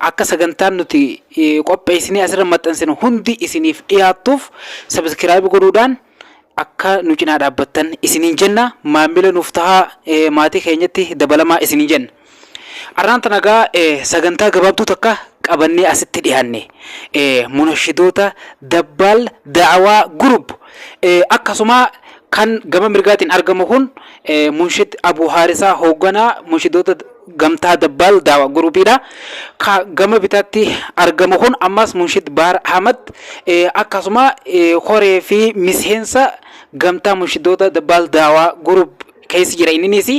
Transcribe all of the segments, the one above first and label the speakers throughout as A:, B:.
A: Akka sagantaan nuti qopheessinee asirra maxxansinu hundi isiniif dhiyaattuuf sabiskiraayib godhuudhaan akka nu cinaa dhaabbattan isiniin jenna. Maamila nuuf tahaa maatii keenyatti dabalamaa isiniin jenna. Arraan tana egaa sagantaa gabaabduu takka qabannee asitti dhiyaanne. Munashidoota Dabbaal Da'awaa Group akkasuma kan gama mirgaatiin argamu kun Munshid Abuu Haarisaa hoogganaa Munshidoota Gamtaa Dabbaal Daawa Guruupiidha. Ka gama bitaatti argamu kun ammas Munshid Baar Ahmad akkasuma koree fi miseensa gamtaa munshidoota Dabbaal Daawa Guruup keessa jira inninis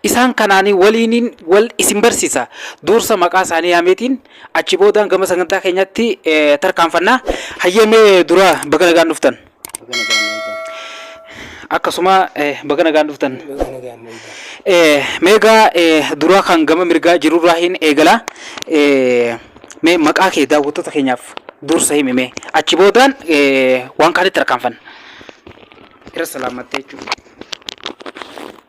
A: isaan kanaan waliiniin wal isin barsiisa duursa maqaa isaanii yaameetiin achi boodaan gama sagantaa keenyatti tarkaanfanna hayyamee dura baga nagaan dhuftan. akkasuma baga nagaan dhuftan. Meegaa duraa kan gama mirgaa jirurraa hin eegala. Mee maqaa kee daawwattoota keenyaaf dursa himi mee achi boodaan waan kaanitti rakkaanfanna. Irra salaamattee jechuudha.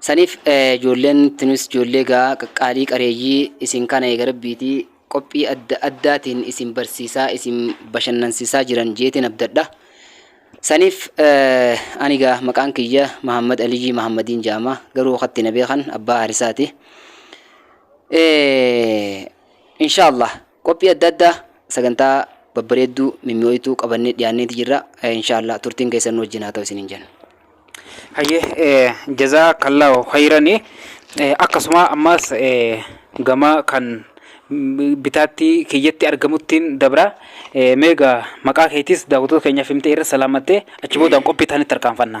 B: Saniif ijoolleen tunis ijoollee egaa qaqqaalii qareeyyii isin kana eega rabbiiti qophii adda addaatiin isin barsiisaa isin bashannansiisaa jiran jeetiin abdadha. Saniif ani egaa maqaan kiyya Mahammad Aliyyii Mahammadiin jaama garuu katti na beekan abbaa harisaati. Inshaallah. Qophii adda addaa, sagantaa babbareedduu, mimmi'ooytuu qabannee dhiyaanneeti jirra. Inshaa Allaah turtiin keessan nu wajjin haa ta'u isiniin jenna.
A: Hayyee jazaa kallaahu khayrani akkasuma ammaas gama kan bitaatti kiyyatti argamuttiin dabra meega maqaa keetis daawwattoota keenyaaf himtee irra salaamattee achi boodaan qophii taanitti tarkaanfanna.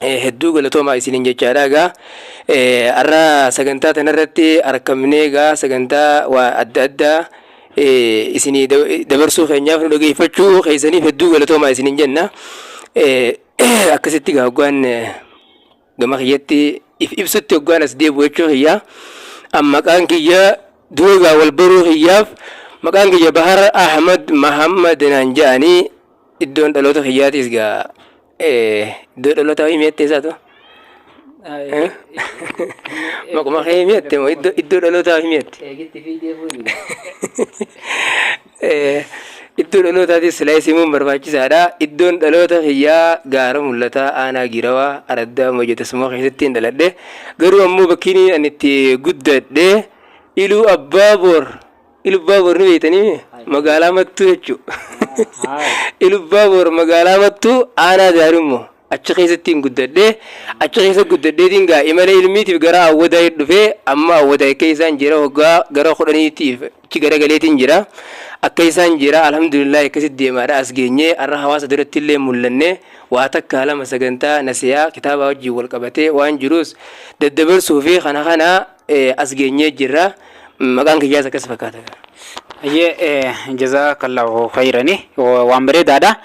C: hedduu galatoomaa isiniin jechaadha egaa har'a sagantaa tanarratti arkamnee egaa sagantaa waa adda addaa isinii dabarsuu keenyaaf nu dhageeffachuu keessaniif hedduu galatoomaa isiniin jenna akkasitti egaa hoggaan gama kiyyatti if ibsutti hoggaan as deebi'u jechuu kiyyaa an maqaan kiyya dura egaa wal baruu kiyyaaf maqaan kiyya bahar ahmad mahammad naan ja'anii iddoon dhaloota kiyyaatiis egaa Iddoo dhalootaa himi jettee isaatu. Maquma kee himi jette moo iddoo iddoo dhalootaa himi jette. Eegitti fiigdee fuudhi. Eh, Iddoo dhalootaatis silaa isimuun barbaachisaadha. Iddoon dhaloota kiyyaa gaara mul'ataa aanaa giirawaa araddaa moja tasuma keessatti hin dhaladhe. Garuu ammoo bakkiin ani itti guddadhe iluu abbaa boor Ilubbaabor ni beektanii mee? Magaalaa Mattuu jechuu. Ilubbaabor magaalaa Mattuu aanaa Daarimmoo. Achi keessattiin guddadhe. Achi keessa guddadheetiin gaa imala ilmiitiif gara Awwadaay dhufee amma Awwadaay akka isaan jira waggaa gara kudhaniitiif achi garagaleetiin jira. Akka isaan jira alhamdulillah akkasitti deemaadha as geenyee har'a hawaasa duratti illee mul'anne waa takka lama sagantaa nasiyaa kitaabaa wajjin wal qabatee waan jirus daddabarsuu fi kana kana eh, as geenyee jirra maqaan kiyyaas akkas fakkaata gaa. Hayyee
A: eh, jazaakallahu khayrani Wa- waan bareedaadha.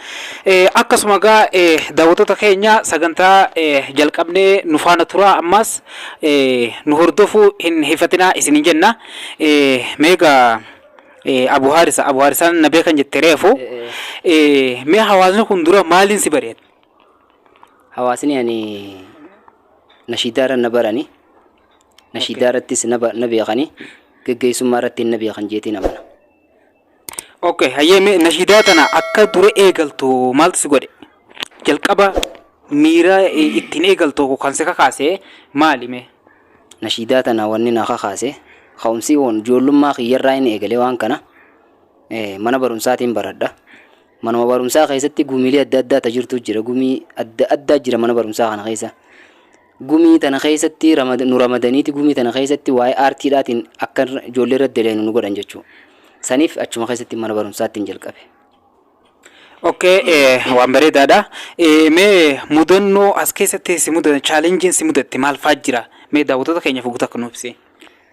A: Eh, Akkasuma gaa eh, daawwattoota keenya sagantaa eh, jalqabnee nu faana turaa ammas eh, nu hordofuu hin hifatinaa isin jenna. Eh, Meegaa eh, Abu Haarisa Abu Haarisaan na beekan jette reefu eh, mee hawaasni kun dura maaliin si bareeda?
B: Hawaasni ani nashiidaarra na barani. nashiidaa irrattis na ba- na beekani geggeessummaa irratti na beekan jeetiin amana Okay,
A: hayyee mee nashiidaa tana akka dura eegaltu maaltu si godhe? Jalqaba miira eh, ittiin eegaltu kan si kakaase maali mee? nashiidaa tana
B: wanni na kakaase ka'umsi kun ijoollummaa kiyyarraa inni eegalee waan kana eh, mana barumsaatiin baradha manuma barumsaa keessatti gumiilee adda addaa ta jirtu jira gumii adda addaa jira mana barumsaa kana keessa Gumii tana keessatti ramad, nu ramadaniiti gumii tana keessatti waa'ee aartiidhaatiin akka ijoollee irratti deleenu nu godhan jechuu. Saniif achuma keessatti mana barumsaattiin jalqabe. Okay,
A: eh, waan bareedaadha. Eh, mee mudannoo as keessatti si mudate, chaalenjiin si mudatte maal fa'aa jira? Mee daawwattoota keenyaaf guutuu akka nuuf ibsi.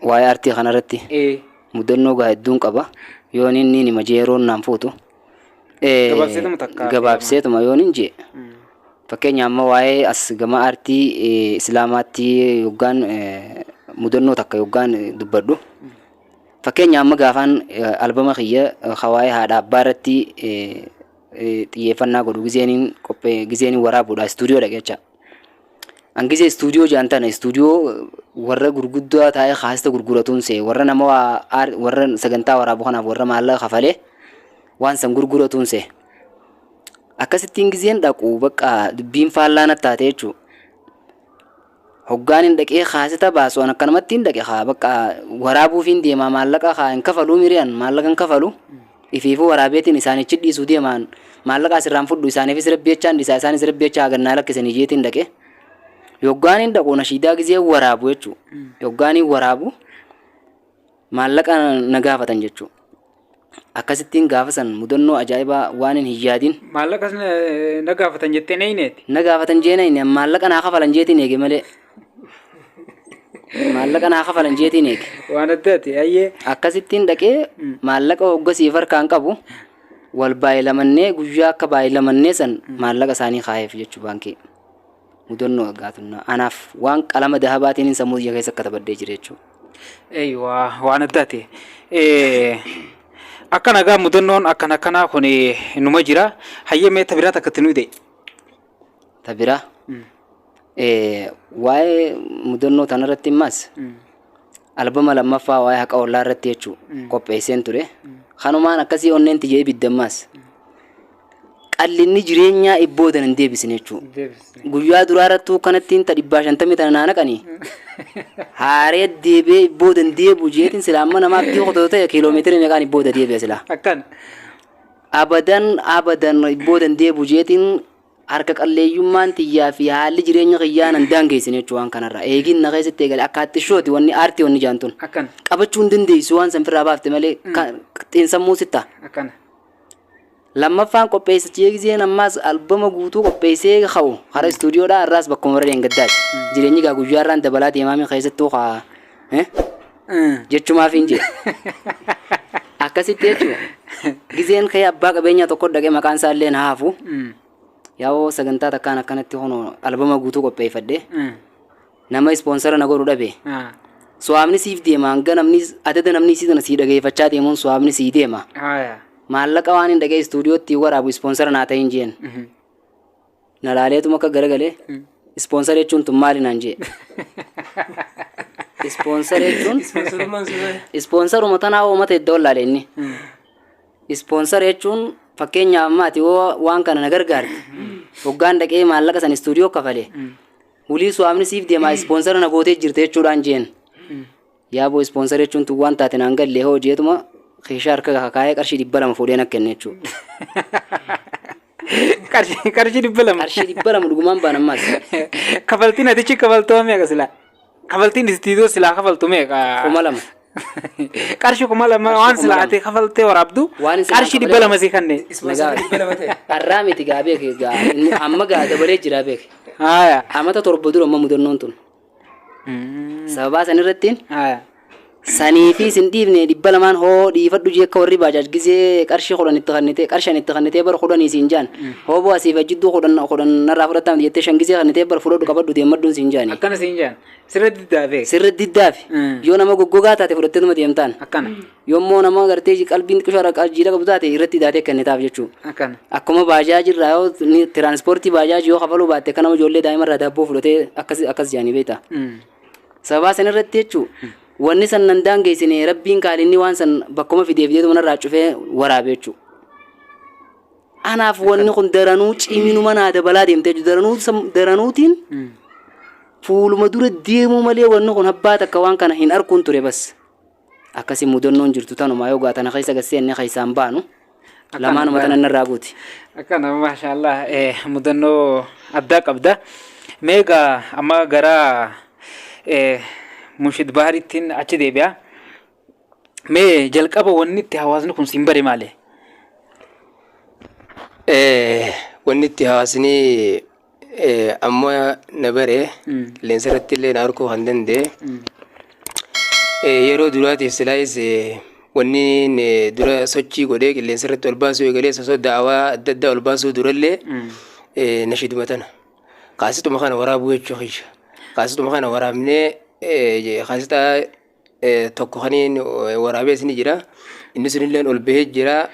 A: Waa'ee aartii
B: kanarratti Eh, mudannoo gaa hedduun qaba. Yoon inni nima jeeroon naan fuutu. Gabaabseetuma takka. gabaabseetuma yoon hin jee fakkeenya amma waa'ee as gama aartii eh, islaamaatti yoggaan eh, mudannoo takka yoggaan eh, dubbadhu fakkeenya amma gaafaan eh, albama kiyya eh, ka waa'ee haadha abbaa irratti eh, eh, xiyyeeffannaa godhu gizeeniin qophee gizeeniin waraabuudha istuudiyoo dhaqecha An gizee istuudiyoo jaan tana istuudiyoo warra gurguddaa taa'ee kaasita gurguratuun see warra nama waa aar- warra sagantaa waraabu kanaaf warra maallaqa kafalee waan san gurguratuun see. Akkasittiin gizeen dhaqu bakka dubbiin faallaa natti taate jechuu. Hoggaan hin dhaqee kaasita baasu an akkanumatti hin dhaqe kaa bakka waraabuufiin deemaa maallaqa kaa hin kafaluu miri'an maallaqa hin kafalu. Ifiifuu waraabeetiin isaanichi dhiisuu deemaan maallaqaas irraan fudhu isaaniifis rabbi jechaan dhisaa isaanis rabbi jechaa hagan naa lakkisanii jeetiin dhaqe yoggaaniin dhaqu nashiidaa gizee waraabu jechuu yoggaaniin waraabu maallaqa na gaafatan jechuu akkasittiin gaafa san mudannoo ajaa'ibaa waanin hin yaadin Maallaqas na-
A: na gaafatan jettee na hineeti. na gaafatan jeena
B: inni maallaqa naa kafalan jeetiin eege malee maallaqa naa kafalan jeetiin eege waan adda ati ayyee
A: akkasittiin dhaqee
B: maallaqa hoggasiif harkaan qabu wal baay'ilamannee guyyaa akka baay'ilamannee san maallaqa isaanii kaayeef jechuu baankii mudannoo aggaatunnaa anaaf waan qalama dahabaatiin sammuu biyya keessa akka tabaddee jira jechuudha. eywa
A: waan adda ati akkana gaa mudannoon akkana akkanaa kun numa jira hayyee meetta biraa takka itti nu hidhe Ta
B: biraa waa'ee mudannoo tanarratti immaas albama lammaffaa waa'ee haqa ollaa irratti jechuu qopheesseen ture. Kanumaan akkasii onneen tiyya ibidda immaas qallinni jireenyaa ibboodan hin deebisne jechuu. Guyyaa duraa irrattuu kanattiin ta dhibbaa shantamii tana naa naqanii haaree deebee ibboodan deebu jeetiin silaa amma namaa abdii qotoota ta'e kiiloomeetira meeqaan ibbooda deebi'a silaa. Akkan.
A: Abadan
B: abadan booda hin deebi'u jeetiin harka qalleeyyummaan tiyyaa fi haalli jireenya kiyyaa nan daangeessine jechuun waan kanarraa eegiin na keessatti eegale akka attishooti wanni aartii wanni jaan tun Akkana. qabachuu hin
A: dandeessu
B: waan san firraa baafte malee ka- xiinsammuu sitta. Akkana. Lammaffaan qopheessichi eegiseen ammaas albama guutuu qopheessee ka'u hara istuudiyoodhaa irraas bakkuma warra deengaddaati. Jireenyi gaa guyyaarraan dabalaa deemaamii keessattuu kaa. eh? jechumaafiin jee akkasitti jechuudha gizeen kee abbaa qabeenyaa tokko dhaqee maqaan isaa illee na haafu yaa'oo sagantaa takkaan akkanatti hono albama guutuu qopheeffadhe nama ispoonsara na godhu dhabe suwaamni siif deema hanga namni adada namni isii tana sii dhageeffachaa deemuun suwaamni sii deema maallaqa waan hin dhagee istuudiyootti waraabu ispoonsara naa ta'in jeen Na laaleetuma akka garagalee ispoonsara jechuun tun maali naan jee. Ispoonsara jechuun Ispoonsarummaan sun maali? ispoonsaruma tanaa uummata iddoo laale inni. Ispoonsara jechuun fakkeenyaaf amma ati yoo waan kana na gargaarte hoggaan dhaqee maallaqa san istuudiyoo kafale wulii su'aamni siif deemaa ispoonsara na gootee jirte jechuudhaan jeen. Yaaboo ispoonsara jechuun tun waan taate naan galle hoo jeetuma keeshaa harka kakaayee qarshii dhibba lama fuudheen akka kenne jechuudha.
A: Qarshii qarshii dhibba lama. Qarshii dhibba lama dhugumaan
B: baan ammaas. Kafaltiin
A: atichi kafaltoo meeqa silaa? Kafaltiin istiidoo silaa kafaltu meeqa? Kuma lama. Qarshii kuma lama waan kuma silaa lama. ati kafaltee waraabdu Waan silaa qarshii dhibba kafalame- lama sii kanneen. Ispoonsara dhibba lama ta'e.
B: Har'aa miti gaa beeke gaa inni amma gaa dabalee jira beeke. Haaya. Amata
A: torba dura amma
B: mudannoon tun. sababaa san irrattiin Haya. sanii fi sin dhiifne dhibba lamaan hoo dhiifadhu jee akka warri baajaaj gizee qarshii kudhan itti kannitee qarshan itti kannitee bar kudhanii siin jaan hoo bu'aa siif ajjidduu kudhan kudhan narraa fudhattaamti jettee shan gizee kannitee bar fudhadhu qabadhu deemmadhuun siin jaani Akkana siin jaan.
A: Sirra diddaafee. sirra diddaafi
B: Mm. yoo nama goggogaa taate fudhatteetuma deemtaan Akkana. Yommoo
A: nama gartee
B: qalbiin xiqqisho haraqaa jijjiira qabu taate irratti daatee kennitaaf jechuu. Akkana. Akkuma
A: baajaaji
B: irraa yoo tiraanspoortii baajaaji yoo kafaluu baatte akka nama ijoollee daa'ima irraa daabboo fudhatee akkas akkas jaanii beektaa. Sababaa san irratti jechuu wanni san nan daangeessine rabbiin kaalinni waan san bakkuma fideef deetu manarraa cufee waraabe jechuu. Anaaf wanni kun daranuu ciminuma naa dabalaa deemte jechuu daranuu daranuutiin fuuluma dura deemuu malee wanni kun abbaa takka waan kana hin arkuun ture bas. Akkasi mudannoon jirtu tanuma yoo gaa tana keessa gad seenne keessaa hin baanu. Akkanuma. Lamaanuma tana narraa guuti. Akkana maashaallah
A: eh, mudannoo addaa qabda. Mee egaa amma gara eh, Munshid Baharittiin achi deebi'a. Mee jalqaba wanni itti hawaasni kun siin bare maali?
C: Eh, wanni itti hawaasni Amma na bare leensa irratti illee na arguu kan danda'e. Yeroo duraatiif silaayis wanni dura sochii godhee qilleensa irratti ol baasuu eegalee osoo da'awaa adda addaa ol baasuu durallee nashiiduma tana. Kaasituma kana waraabuu jechuu kiyya. Kaasituma kana waraabnee kaasitaa tokko kaniin waraabee isin jira. Inni sunillee ol bahee jira.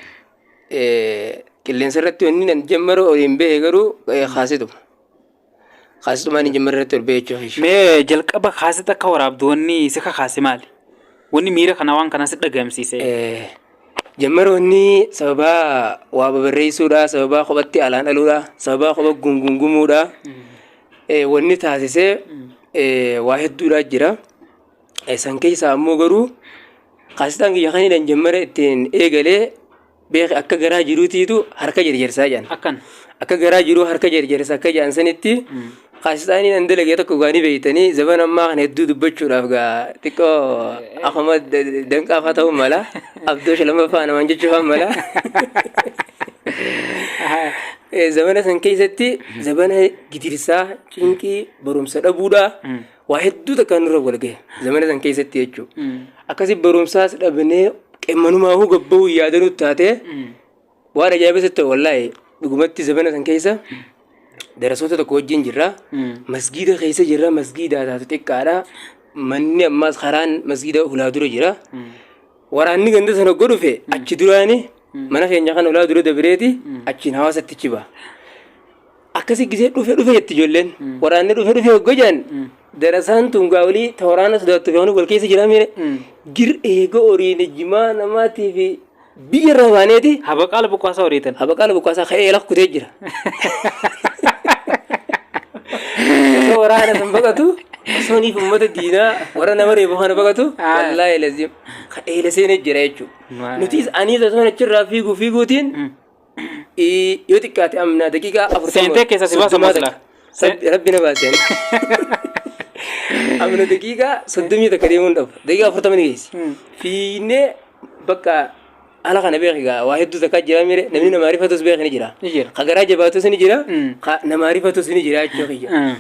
C: Qilleensa irratti wanni nan jammaru oliin bahe garuu kaasituma. Kaasitumaan hin jammarre irratti ol bahe jechuudha. Mee jalqaba
A: kaasita akka waraabdu wanni si kakaase maali? Wanni miira kana waan kana si dhagamsiise. Jammara wanni
C: sababaa waa babarreessuudha, sababaa kophatti alaan dhaluudha, sababaa kopha gungungumuudha. Wanni taasisee waa hedduudha jira. San keessaa ammoo garuu kaasitaan kiyya kan hidhan jammara ittiin eegalee beeki akka garaa jiruutiitu harka jarjarsaa jedhan. Akkan. Akka garaa jiruu harka jarjarsa akka jedhan sanitti kaasitaan hidhan dalagee tokko gaanii beektanii zaban ammaa kana hedduu dubbachuudhaaf gaa xiqqoo akkuma danqaafaa ta'uu mala abdoo shalamaffaa namaan jechuufaa mala. Eh, Zabana san keessatti zabana gidirsaa, cinqii, barumsa dhabuudhaa. waa hedduu takkaan nurra wal gahe zamana san keessatti jechuu akkasi barumsaas dhabnee qemmanumaa huu gabbahuu yaadanuu taatee waan ajaa'ibaa sitti wallaahi dhugumatti zamana san keessa darasoota tokko wajjin jirra masgiida keessa jirra masgiidaa taatu xiqqaadha manni ammaas karaan masgiida hulaa dura jira waraanni ganda sana oggo dhufe achi duraani mana keenya kan hulaa dura dabireeti achiin hawaasatti chiba akkasi gisee dhufe dhufe jetti ijoolleen waraanni dhufe dhufe hogga jedhan darasaan tun gaa olii ta waraana sodaattu fi hanu wal keessa jira miire gir eega horiin ijjimaa namaatii fi biyya irraa baaneeti Habaqaala buqqaasaa horiitan.
A: habaqaala buqqaasaa ka'ee lafa
C: kutee jira osoo waraana san baqatu osoo niif uummata diinaa warra nama reefu kana baqatu Ah. wallaahi lazim ka'ee laseenee jira jechuudha Maa- nutis aniis osoo achirraa fiiguu fiiguutiin Ii, yoo xiqqaate amnaa daqiiqaa afurtama Seentee keessaa si baasa soddomaa
A: maslaa? takka. Rabbi- rabbi na baaseen
C: amna daqiiqaa soddomii takka deemuun dhabu daqiiqaa afurtama ni geessi fiinnee bakka ala kana beeki gaa waa hedduu takkaa jira mire namni namaa rifatus beeki ni jira Ni jira. ka garaa jabaatus ni jira Mm. ka namaa rifatus ni jira jechuu kiyya Mm.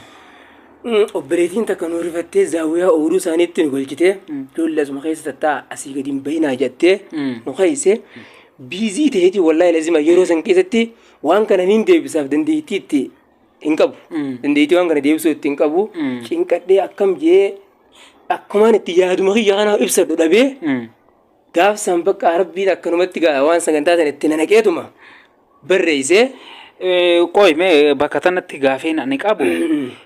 C: Mm, obboleettiin takka nu rifattee zaawwiyaa ooluu isaaniitti nu galchitee ijoollee asuma keessa tattaa asii gadi hin bayinaa jettee Mm. nu keesse biizii ta'eeti wallaahi lazima yeroo san keessatti waan kana niin deebisaaf dandeettii itti hin qabu. Dandeettii waan kana deebisuu itti hin qabu. Cinqadhee akkam jee akkumaan itti yaaduma kiyya kana ibsadhu dhabee gaaf san bakka rabbiin akkanumatti gaa waan sagantaa sana itti nanaqeetuma barreessee Eh,
A: Qoy mee bakka tanatti gaafeen ani qabu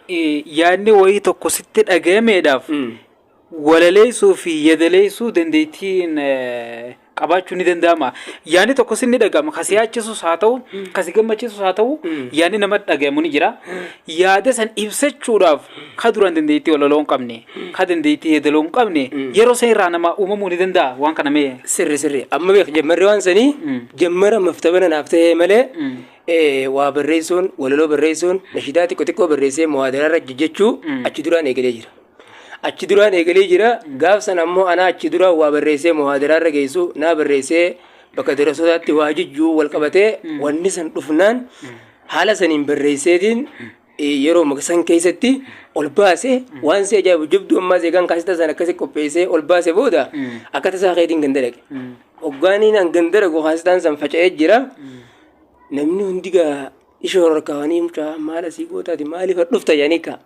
A: eh, yaadni wayii tokko sitti dhagayameedhaaf walaleessuu fi yadaleessuu dandeettiin qabaachuun ni danda'ama. Yaanni tokkos ni dhaga'ama. Kasi yaachisus haa ta'u, kasi gammachiisus haa ta'u, yaanni nama dhagayamu ni jira. Yaada san ibsachuudhaaf ka duraan dandeettii walaloo hin qabne, ka dandeettii yadaloo hin qabne, yeroo san irraa nama uumamuu ni danda'a waan kana mee. Sirri sirri. Amma beek
C: jammarri waan sanii jammara maftabana naaf ta'ee malee waa barreessuun, walaloo barreessuun, nashidaa xiqqo xiqqoo barreessee muhaadaraarra jechuu achi duraan eegalee jira. Achi duraan eegalee jira. Gaaf sana ammoo anaa achi dura waa barreessee muhaadaraarra geessu naa barreessee bakka darasootaatti waa jijjuu wal qabatee wanni san dhufnaan haala saniin barreesseetiin eh, yeroo maka- san keessatti ol baase waan si ajaa'ibu jabduu ammaas eegaan kaasita san akkasi qopheessee ol baase booda akka tasaa keetiin ganda dhaqe. Hoggaaniin an ganda dhaqu kaasitaan san faca'ee jira. Namni hundi gaa ishoo rorkaawanii mucaa maal asii gootaati maaliif dhufta jedhanii kaa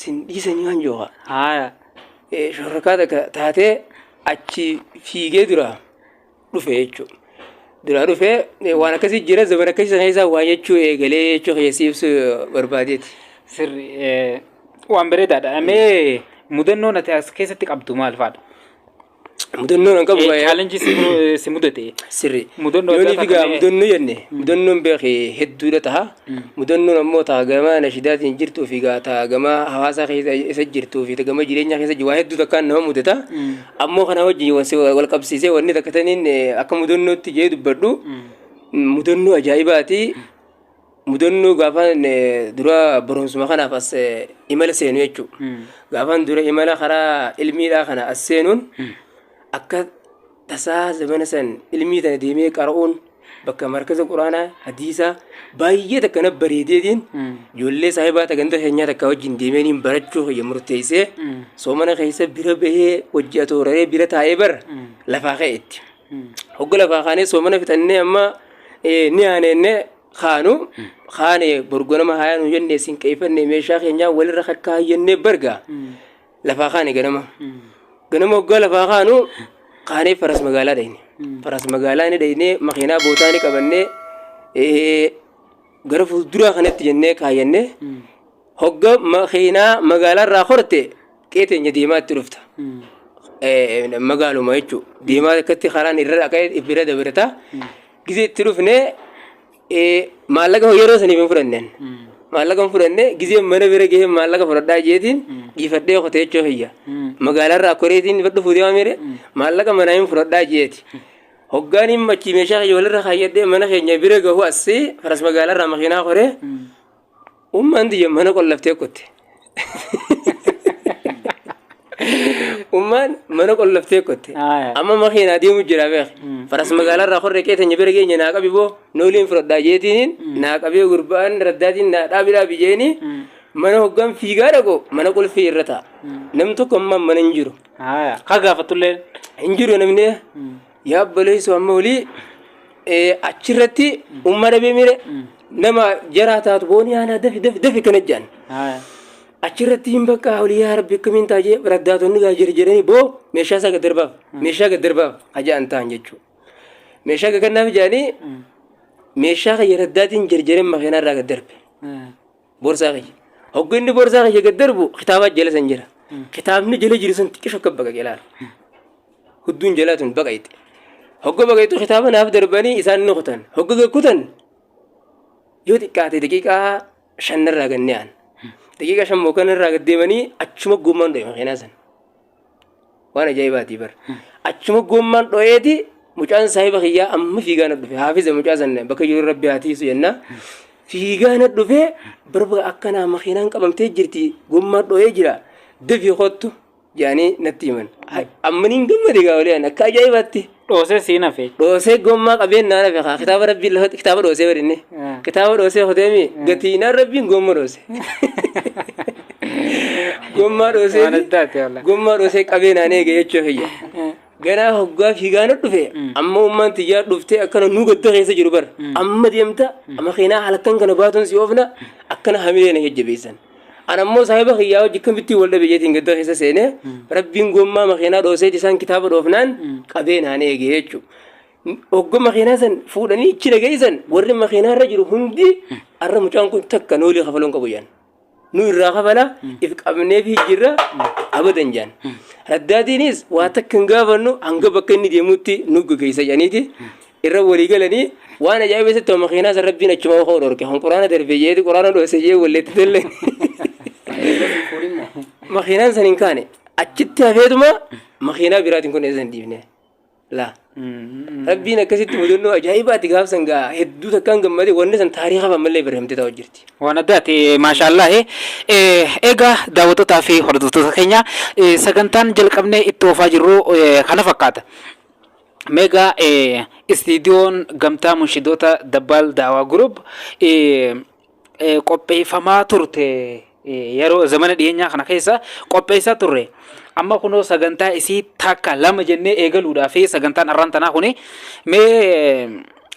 C: sin dhiisanii waan jooha haaya shororkaa takka taatee achi fiigee dura dhufe jechuudha. Dura dhufe waan akkasii jira zaman akkasii sana keessaa waan jechuu eegalee jechuu keessi ibsu barbaadeeti.
A: Sirri
C: waan bareedaadha.
A: Mee mudannoon ati as keessatti qabdu maal faadha?
C: Mudannoon an qabu Eh, baay'ee. challenge si mu- eh,
A: si mudate. Sirri. Mudannoo
C: Yoon addaa figaa ta'a
A: mee? mudannoo
C: jenne mudannoon beeki hedduudha taha. Mudannoon ammoo taha gamaa nashidaatiin jirtuu fi gaa taha gamaa hawaasaa keessa isa jirtuu fi gama jireenyaa keessa jiru waa hedduu takkaan nama mudata. Ammoo kana wajjin wal si- wal qabsiisee wanni takka taniin eh, akka mudannootti jee dubbadhu mudannoo ajaa'ibaati. mudannoo gaafaan eh, dura barumsuma kanaaf as eh, imala seenu jechuudha. Gaafaan dura imala karaa ilmiidhaa kana as seenuun akka tasaa zamana san ilmii tana deemee qara'uun bakka markaza quraanaa hadiisaa baay'ee takka na bareedeetiin ijoollee saahibaa ta ganda keenyaa takka wajjin deemeeniin barachuu kiyya murteessee soomana keessa bira bahee wajji atooraree bira taa'ee bara lafaa ka'eetti. hogga lafaa kaanee soomana fixannee amma ni aaneenne kaanu kaane borgonama haayaa nu jennee siin qeeffannee meeshaa keenyaa walirra kakkaa jennee barga lafaa kaane ganama ganama hoggaa lafaa kaanu kaanee faras magaalaa dhayne faras magaalaa ni dhayne makiinaa bootaa ni qabannee gara fuulduraa kanatti jennee kaayannee Hogga makiinaa magaalarraa korte qe'ee teenya deemaatti dhufta. Eh, Magaaluma jechuun deemaa akkatti karaan irra dhaqee bira dabarta. Gizee itti dhufne eh, maallaqa yeroo saniif hin fudhannen. Maallaqa hin fudhanne gizee mana bira gahee maallaqa fudhadhaa jeetiin dhiifadhee kotee jechuu kiyya. Magaalarraa koreetiin dhufu deemaa mire maallaqa manaa hin fudhadhaa jeeti. Hoggaan hin machi meeshaa kiyya walirra kaayyadhee mana keenya bira gahu asii faras magaalarraa makiinaa koree Ummaan tiyya mana qollaftee kutte. Ummaan mana qollaftee kutte. Aya. Amma makiinaa deemu jira beek. Faras magaalaa irraa horre qee teenya bira geenye naa qabi boo nooliin fudhadhaa jeetiin naa qabee gurbaan raddaatiin naa dhaabi dhaabi jeeni mana hoggaan fiigaa dhaqu mana qulfii irra ta'a. Nam tokko ammaan mana hin jiru. Aya. Ka gaafatulleen.
A: Hin jiru namni
C: Yaa obboleessu amma olii achirratti umma dhabee mire nama jaraa taatu boonii haanaa dafi dafi dafi kana jedhan. Achirratti hin bakka olii yaa rabbi akkamiin ta'a jee raddaatonni gaa jira jedhanii boo meeshaa isaa gaddarbaaf meeshaa gaddarbaaf aja'an ta'an jechuudha. Meeshaa gagannaaf jedhanii meeshaa kan raddaatiin jarjareen makiinaa irraa gaddarbe. Borsaa kiyya. Hoggu inni borsaa kiyya gad darbu kitaabaa jala san jira. Kitaabni jala jiru san xiqqisho akka baqaqe laala. Hudduun jalaa tun baqayxe. Hogga baqayxu kitaaba naaf darbanii isaan ni kutan. Hogga gad kutan yoo xiqqaate daqiiqaa shan irraa gad ni aan. Daqiiqaa shan moo kan irraa gad deemanii achuma gommaan dho'e makiinaa san. waan ajaa'ibaati bar achuma gommaan dho'eeti mucaan saahiba kiyyaa amma fiigaa na dhufe haafiza mucaa sanne bakka jiru rabbi haa tiisu jenna fiigaa na dhufe barba akkanaa makiinaan qabamtee jirti gommaa dho'ee jira dafii kottu jedhanii natti himan ammaniin gammade gaa'olee akka ajaa'ibaatti. dhoosee siin hafe.
A: dhoosee gommaa qabeen
C: naan hafe kaa kitaaba rabbiin lafatti kitaaba dhoosee bari inni Eh. kitaaba dhoosee kutee mi gatiinaan rabbiin gomma dhoose gommaa dhoosee Waan addaati wallah. gommaa dhoosee qabee naan eege jechuu kiyya Eh, ganaa hoggaa fiigaana dhufe amma ummaan tiyyaa dhuftee akkana nuu gadda keessa jiru bar amma deemta amma keenaa halkan kana baatuun si oofna akkana hamilee na jajjabeessan An ammoo saahiba kiyyaa wajji akkamittiin wal dhabe jeetiin gadda keessa seenee rabbiin gommaa makiinaa dhooseeti isaan kitaaba dhoofnaan qabee naan eege jechuudha. Ogga makiinaa san fuudhanii ichi nageessan warri makiinaa irra jiru hundi har'a mucaan kun takka noolii kafaloon qabu jaan. Nu irraa kafala if qabnee fi jirra abadan jaan. Raddaatiinis waa takka hin gaafannu hanga bakka inni deemutti nu gaggeessa jaaniiti. irra walii galanii waan ajaa'iba isatti homa keenaa san rabbiin achuma hoo dhorke kan quraana darbee jeeti quraana dhoose jee walleetti tolle makiinaan san hin kaane achitti hafeetuma makiinaa biraatiin kun eessa hin dhiifne laa rabbiin akkasitti mudannoo ajaa'ibaati gaafsan gaa hedduu takkaan gammade wanni san taariikha ammallee barreeffamtee ta'u jirti Waan addaati
A: maashaallah egaa daawwattotaa fi hordoftoota keenya eh, sagantaan jalqabnee itti oofaa jirru eh, kana fakkaata. Mega Istiidiyoon Gamtaa Munshidoota Dabbaal Daawaa Group qopheeffamaa turte yeroo zamana dhiyeenyaa kana keessa qopheessaa turre. Amma kunoo sagantaa isii takka lama jennee eegaluudhaa fi sagantaan arraan tanaa kuni mee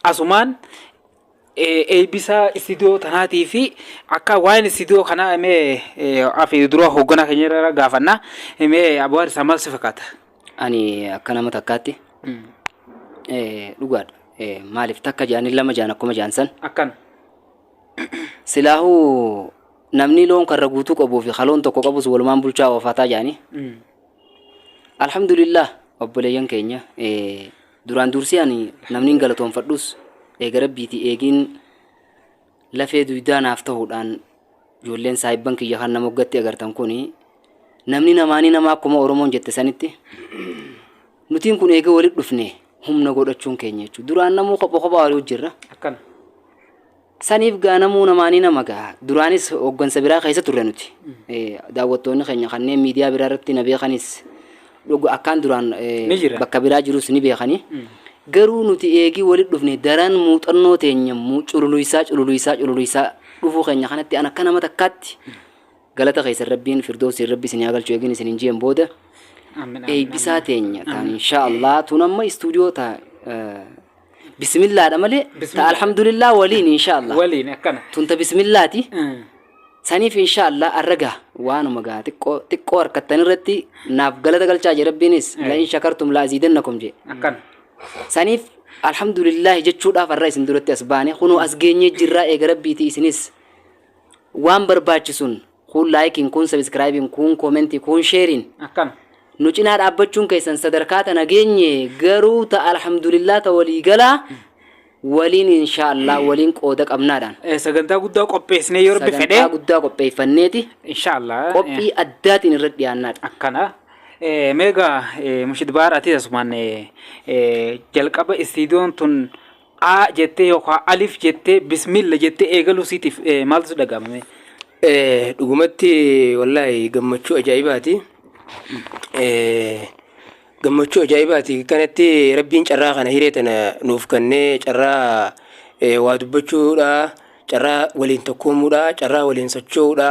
A: asumaan Eebbisa istiidiyoo tanaatii fi akka waa'een istiidiyoo kanaa mee afi dura hoogganaa keenya irra gaafanna mee aboo harsaa maal si fakkaata? Ani
B: akka nama takkaatti dhugaadha. Maaliif takka jaanii lama jaan akkuma jaan san. Akkana. Silaahuu namni loon karra guutuu qabuu fi kaloon tokko qabus walumaan bulchaa oofataa jaanii. Alhamdulillah obboleeyyan keenya Duraan duursee ani namnin galatoonfadhus eega Rabbiitii eegiin lafee duydaa naaf tahuudhaan ijoolleen saahibban kiyya kan na moggatti agartan kuni namni namaanii nama akkuma Oromoon jette sanitti nutiin kun eega walitti dhufne humna godhachuun keenya jechuudha. Duraan namuu kopha kophaa walii hojjirra. Akkana. Saniif gaa namuu namaa ni nama gaa. Duraanis hoggansa biraa keessa turre nuti. Daawwattoonni keenya kanneen miidiyaa biraa irratti na beekanis dhuga akkaan duraan Ni jira. bakka biraa jirus ni beekani. Garuu nuti eegii walitti dhufne daran muuxannoo teenya muu- cululuisaa cululuisaa cululuisaa dhufuu keenya kanatti an akka nama takkaatti galata keessan rabbiin firdoosiin rabbi isin haa galchu eegin isin hin jeen booda Aamin, aamin, eebbisaa teenya taan inshaa Allah tun amma istuudiyoo taa eh, bisimillaadha malee ta Bismillah. alhamdulillah waliin inshaallah waliin akkana tunta
A: bisimillaati
B: Mm. saniif inshaallah arra gaha waanuma gaha xiqqoo xiqqoo harkattan irratti naaf galata galchaa jee rabbiinis Eh. la in shakartum la aziidannakum jee akkana
A: saniif
B: alhamdulillah jechuudhaaf arra isin duratti as baane kunoo as geenyee jirraa eega rabbiiti isinis waan barbaachisuun Kuun laayikiin, kuun sabiskiraayibiin, kuun koomentii, kuun sheeriin. Akkana. Nu
A: cinaa
B: dhaabbachuun keessan sadarkaa tana geenye garuu ta alhamdulillah ta walii galaa waliin inshaa Allah waliin qooda qabnaadhaan. Eh, Sagantaa guddaa
A: qopheessinee yoo rabbi fedhe. Sagantaa guddaa qopheeffanneeti
B: Inshaallah. eh,
A: qophii addaatiin
B: irra dhiyaannaadha. Akkana.
A: Eh, Meegaa eh, Mushid Baar ati asumaan eh, eh, jalqaba istiidiyoon tun A jettee yookaan alif jettee bismilla jettee eegaluu siitiif maaltu si dhaga'ama mee? Dhugumatti
C: wallaahi gammachuu ajaa'ibaati. Gammachuu ajaa'ibaati. Kanatti rabbiin carraa kana hiree tana nuuf kennee carraa waa dubbachuudha, carraa waliin tokkoomuudha, carraa waliin socho'uudha.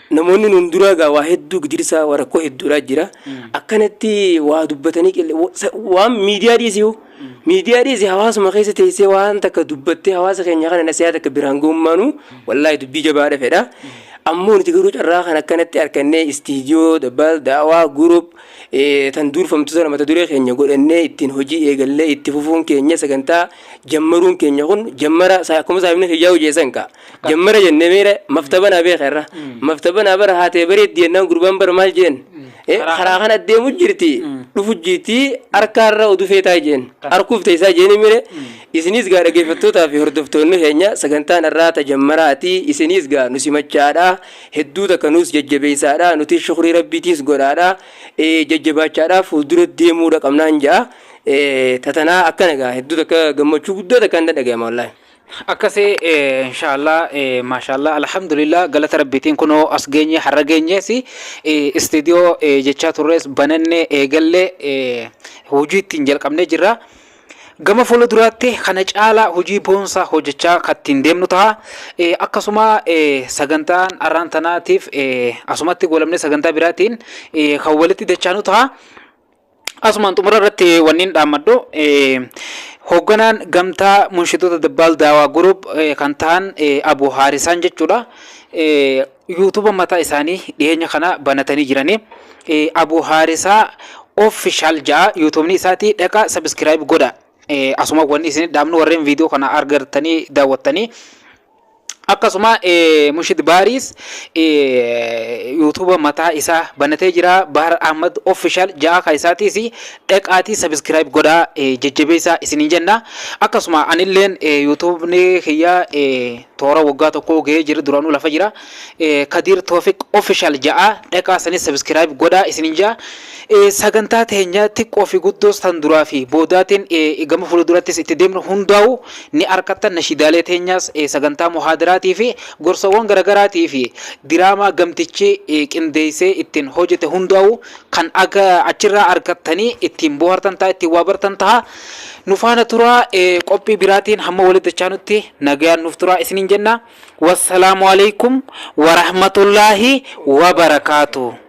C: Namoonni nuun duraa gaa waa hedduu gidirsaa waa rakkoo hedduudhaa jira. Akkanatti waa dubbatanii qille wa- sa- waan miidiyaa dhiisii hoo miidiyaa dhiisii hawaasuma keessa teessee waan takka dubbattee hawaasa keenya kana nasiyaa takka biraan goommaanu wallaahi dubbii jabaadha fedha. Ammoo nuti garuu carraa kan akkanatti harkannee istiidiyoo dabbal daawaa gurup tan duurfamtu sana mata duree keenya godhannee ittiin hojii eegallee itti fufuun keenya sagantaa jammaruun keenya kun jammara sa- akkuma saahibni kiyyaa hojjeessan kaa. Jammara jennee meera maftaba naa beeka irra. Maftaba naa bara haatee bareeddi jennaan gurbaan bara maal jeen. Eh, Karaa kana deemu jirti. Dhufu jirti harkaarra oduu feetaa jeen. Harkuuf teessaa jeeni mire. Isinis gaa dhaggeeffattootaa fi hordoftoonni keenya sagantaan irraa tajammaraati. Isinis gaa nu simachaadha. Hedduu takka nuus jajjabeessaadha. Nutis shukrii rabbiitiis godhaadha. Eh, jajjabaachaadha fuuldura deemuudha qabnaan ja'a. Eh, tatanaa akkana gaa hedduu takka gammachuu guddaa takka hin dhaga'ama wallaahi. Akkasi
A: inshallah mashallah alhamdulillah galata rabbiitiin kuno as geenye har'a geenyees studio jechaa turrees bananne eegalle hojii ittiin jalqabnee jirra. Gama fuula duraatti kana caalaa hojii boonsaa hojjechaa kan ittiin deemnu ta'a. Eh, Akkasuma eh, sagantaan arraan tanaatiif eh, asumatti goolabnee sagantaa biraatiin eh, kan walitti dachaanu ta'a. Asumaan xumura irratti wanniin dhaammadhu hoogganaan gamtaa munshitoota Dabbaal Daawaa Guruup kan ta'an Abu Haarisaan jechuudha. Yuutuuba mataa isaanii dhiyeenya kana banatanii jiranii. Abu Haarisaa official ja'a yuutuubni isaati dhaqa subscribe godha. Asuma wanni isin dhaamnu warreen viidiyoo kana argartanii daawwattanii Akkasuma Mushid Baariis yuutuuba mataa isaa banatee jira. Bahar Ahmad Official ja'a kan isaatiis dhaqaatii subscribe godhaa jajjabeessaa isiniin jenna. Akkasuma anilleen yuutuubni kiyya toora waggaa tokkoo gahee jira duranuu lafa jira. Kadiir Toofiq Official ja'a dhaqaa sanis subscribe godhaa isinin ja'a. Sagantaa teenya xiqqoo fi guddoos tan duraa fi boodaatiin gama fuuldurattis itti deemnu hundaa'u ni arkattan nashiidaalee teenyaas sagantaa muhaadaraatii fi gorsawwan garagaraatii fi diraamaa gamtichi qindeeysee ittiin hojete hundaa'u kan achirraa arkattanii ittiin boohartan ta'a ittiin waa bartan ta'a. Nufaana turaa qophii biraatiin hamma walitti dachaanutti nagayaan nuuf turaa isinin jenna. Wassalamualeykum warahmatullahii wabarakatuh.